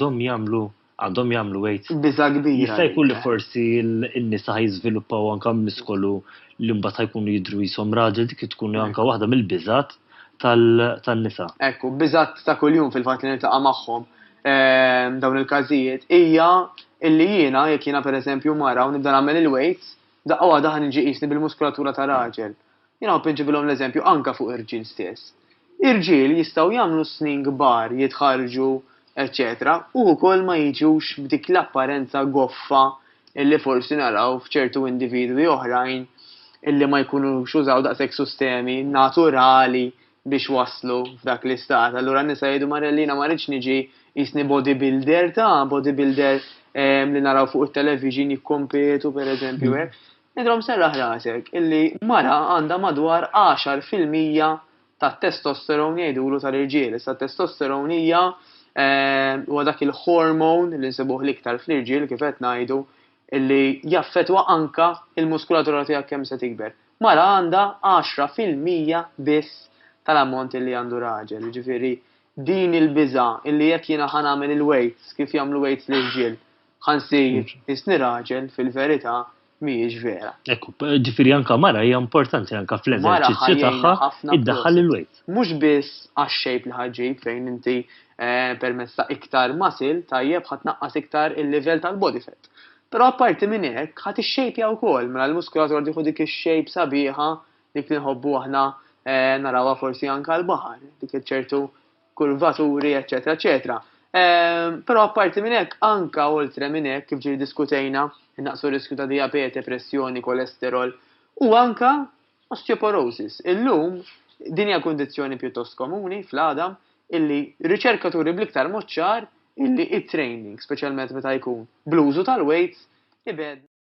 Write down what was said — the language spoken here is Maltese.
għandhom jagħmlu għandhom jagħmlu wejt. Biża kbira. Jista' jkun li forsi n-nisa ħajżviluppaw anke miskolu li mbagħad ħajkunu jidru jisom raġel dik tkun anke waħda mill-biżat tan-nisa. Ekku, biżat ta' kuljum fil-fatt li niltaqa' magħhom ehm, dawn il-każijiet hija illi jiena jekk jiena pereżempju mara u nibda nagħmel il-weights daqqa waħda ħan niġi qisni bil-muskulatura ta' raġel. Jiena npinġibilhom l-eżempju anke fuq ir-rġiel stess. Ir-rġiel jistgħu jagħmlu s-snien kbar, jitħarrġu, eċċetera u wkoll ma jiġux b'dik l-apparenza goffa li forsi naraw f'ċertu individwi oħrajn li ma jkunux użaw daqshekk sustemi naturali biex waslu f'dak l-istat. Allura n-nisa jgħidu, Marelli, jiena ma rridx niġi qisni bodybuilder ta', bodybuilder li naraw fuq it-television jikkompetu, pereżempju, hekk. Idhom serraħ rasek illi mara għandha madwar għaxar fil-mija tat-testosterone jgħidulu tal-irġiel. Issa t-testosterone hija huwa dak il-hormone li nsibuh l-iktar fl-irġiel kif qed ngħidu illi jaffettwa anke l-muskulatura tiegħek kemm se tikber. Mara għandha għaxra fil-mija biss tal-ammont illi għandu raġel. Jiġifieri din il-biża' illi jekk jiena ħa nagħmel il-weights kif jagħmlu weights l-irġiel Ħansir isni raġel fil-verità mhijiex vera. Ekku, ġifieri anka mara hija importanti anka fl-eżerċizzju tagħha iddaħħal il-wejt. Mhux biss għax-xejb li ħaġġib fejn inti eh, permezz ta' iktar masil tajjeb ħadd naqqas iktar il-livell tal-body fat. Però apparti minn hekk ħadd ixxejpja wkoll mela l-muskulatur jieħu dik ix-xejp sabiħa dik li nħobbu aħna eh, narawha forsi anka l-baħar, dik ċertu kurvaturi, eċċetera eċċetera. Però apparti minn hekk, anka oltre minn hekk, kif ġiri diskutejna, innaqsu riskju ta' diabete, pressjoni, kolesterol, u anka osteoporosis. Illum, din hija kundizzjoni pjuttost komuni fl-għadam illi riċerkaturi bl-iktar moċċar illi it-training, speċjalment meta jkun bl-użu tal-weights, ibed